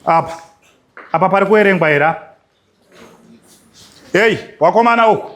apa apa pari kuerengwa here apa heyi wakomana uku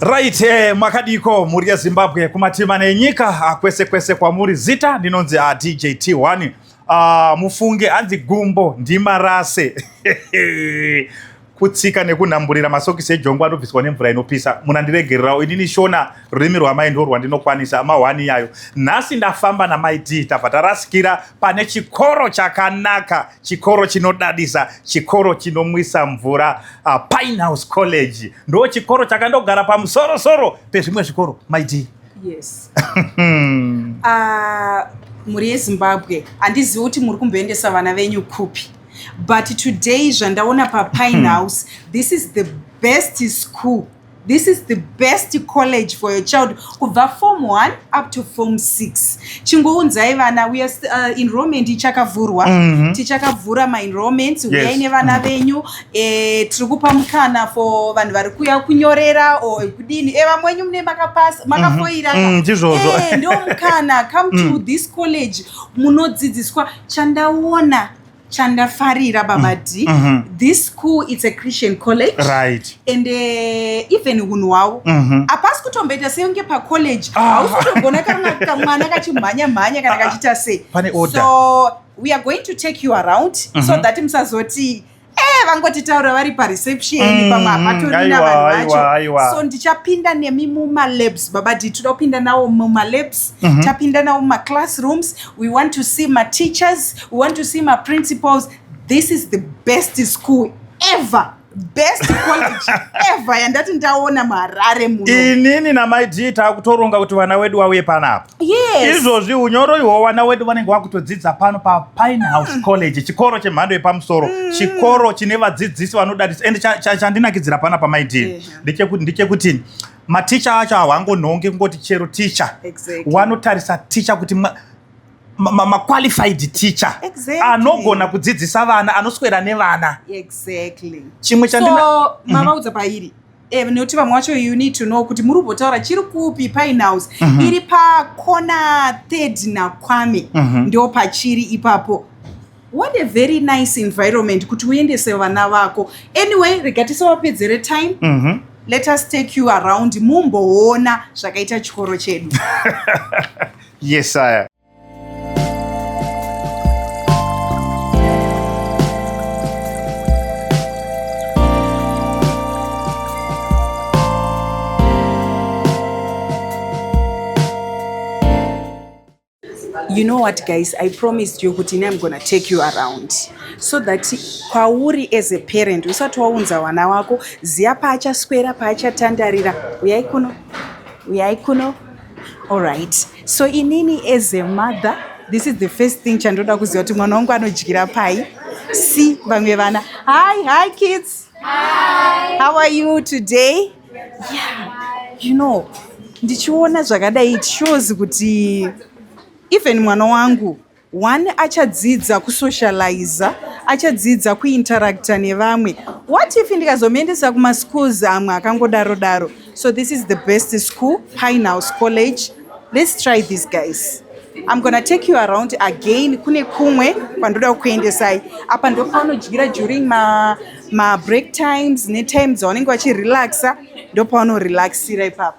Right, eh, makadiko mhuri yeZimbabwe kumatima nenyika ah, kwese kwese kwamuri zita ndinonzi ah, DJ T1 ah, mufunge hanzi gumbo ndimarase kutsika nekunhamburira masokisi ejongwa anobviswa nemvura inopisa muna ndiregererawo inini shona rurimi rwamai ndo rwandinokwanisa amahwani iyayo nhasi ndafamba namai d tabva tarasikira pane chikoro chakanaka chikoro chinodadisa chikoro chinomwisa mvura uh, ah, pinehouse college ndo chikoro chakandogara pamusorosoro pezvimwe zvikoro mai d yes uh, mhuri yezimbabwe handizivi kuti muri kumboendesa vana venyu kupi but today zvandaona papine hmm. house this is the best school this is the best college for your child kubva form 1 up to form 6 chingounzai vana we are uh, enrollment ichakavhurwa mm -hmm. tichakavhura maenrollment uyai yes. nevana mm-hmm. venyu mm -hmm. eh, tiri kupa mukana for vanhu vari kuya kunyorera o kudini e eh, vamwe wenyu mune makapasa mm-hmm. makafoira mm -hmm. mm, eh, ndo mukana come to mm. this college munodzidziswa chandaona chandafarira baba mm. d mm -hmm. this school it's a christian college right and uh, even hunhu hwavo mm -hmm. apasi kutomboita senge pacollege ah. hausi ah. kutogona kana kamwana kachimhanya mhanya kana ah, ah. kachiita sei so we are going to take you around mm -hmm. so mhm. that musazoti Eh, vangotitaura vari pareception mm, pamwe hapatori navanhu vacho so ndichapinda nemi mumalabs baba dii toda kupinda nawo mumalabs mm -hmm. tapinda nawo mumaclassrooms we want to see mateachers we want to see maprincipals this is the best school ever best college ever yandati ndaona muharare muno inini namai g takutoronga kuti vana wedu wauye panapa Yes. Izvozvi unyoro ihwo vana wedu vanenge vakutodzidza pano paPine House mm. College, chikoro chemhando yepamusoro, mm. chikoro chine vadzidzisi vanodadisa and chandinakidzira pana pamaidii ndechekuti ndechekuti maticha acho hawangonhongi kungoti chero ticha exactly. wanotarisa ticha kuti ma, maqualified ma, ma teacher exactly. anogona kudzidzisa vana anoswera nevana exactly. chimwe chandina so, mm -hmm. mavaudza pairi Eh, nekuti vamwe wacho you need to know kuti muri kubotaura chiri kupi pine house mm -hmm. iri pakona third nakwame mm -hmm. ndo pachiri ipapo what a very nice environment kuti uendese vana vako anyway rega tisavapedzere time mm -hmm. let us take you around mumboona zvakaita chikoro chedu yes aya you know what guys i promised you kuti ini im gonna take you around so that kwauri as a parent usati waunza wana wako ziya paachaswera paachatandarira uyai kuno uyai kuno allright So inini as a mother this is the first thing chandoda kuziva kuti mwana wangu anodyira pai si vamwe vana hi hi kids hi. how are you today yeah. you know ndichiona zvakadai it shows kuti even mwana wangu One achadzidza kusocializa, achadzidza kuinteracta nevamwe. What if ndikazomuendesa kumaschools amwe akangodaro daro? So this is the best school, Pinehouse College. Let's try these guys. I'm gonna take you around again kune kumwe kwandoda kukuendesai. Apa ndopaunodyira during ma, ma break times netime dzavanenge vachirelaxa, ndopaunorelaxira ipapo.